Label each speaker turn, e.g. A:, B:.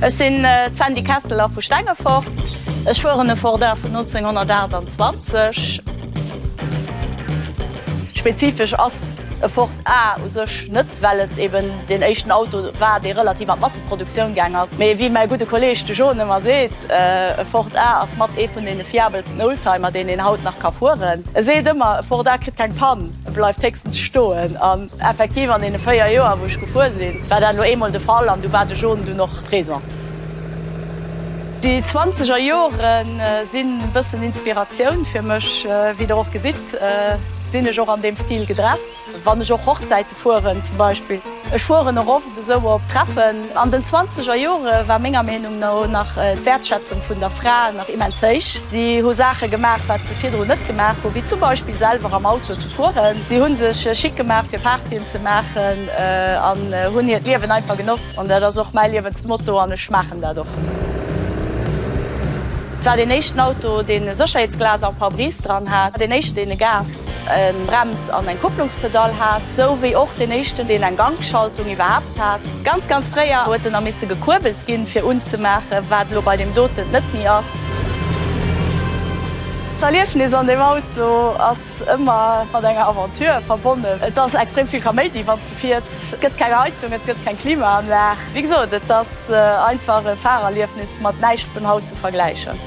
A: Ech sinn d'Sandy Kesseler vu Stengefort. Ech fueren e Ford A vun 1928. Spezifesch ass e Ford A u sech net, well et eben deen éischten Auto war, dee relativ an d'Masseproduktioun gaang ass. Mee wéi mäi gudde Kolleeg de John ëmmer seet, e Ford A ass mat ee vun deene fiabelsten Oldtimer, deen een haut nach ka fueren. E seet ëmmer, e Ford A kritt keng Pann. E bleift héchstens stoen. An effektiv, an deene véier Joer, wou ech gefuer sinn, war dat elo eemol de Fall an du war de Jaune dunn och présent. Déi zwanzeger Jore sinn e bëssen Inspiratioun fir mech. Wéi der och gesitt, sinn ech och an deem Stil gedresst, wann ech och Hochzäite fueren zum Beispill. Ech fueren och oft esou op Treffen. An den zwanzeger Jore war menger Meenung no nach d'Wäertschätzung vun der Fra nach immens héich. Si hu Saache gemaach, wat se virdrun net gemaach hu, wéi zum Beispill selwer am Auto ze fueren. Si hu sech schick gemaach fir Partyen ze maachen an hunn hiert Liewen einfach genoss. An dat ass och mäi Liewensmotto an ech maachen dat och. Et war deen éischten Auto, deen e Sécherheetsglas am Pare-brise dran hat, deen éischten, deen e Gas. en Brems an en Kupplungspedall hat, sou wéi och deen éischten deen eng Gangschaltung iwwerhaapt hat. Ganz ganz fréier huet en da misse gekuerbelt ginn fir unzemaachen, wat elo bei deem doten net méi ass. D'Erliefnis an deem Auto ass ëmmer mat enger Aventure verbonnen. Et ass extrem vill Kaméidi wann s de fiers. Et gëtt keng Heizung, et gëtt keng Klimaanlag. Wéi gesot, et ass einfach e Fahrerliefnis mat näischt vun haut ze vergläichen.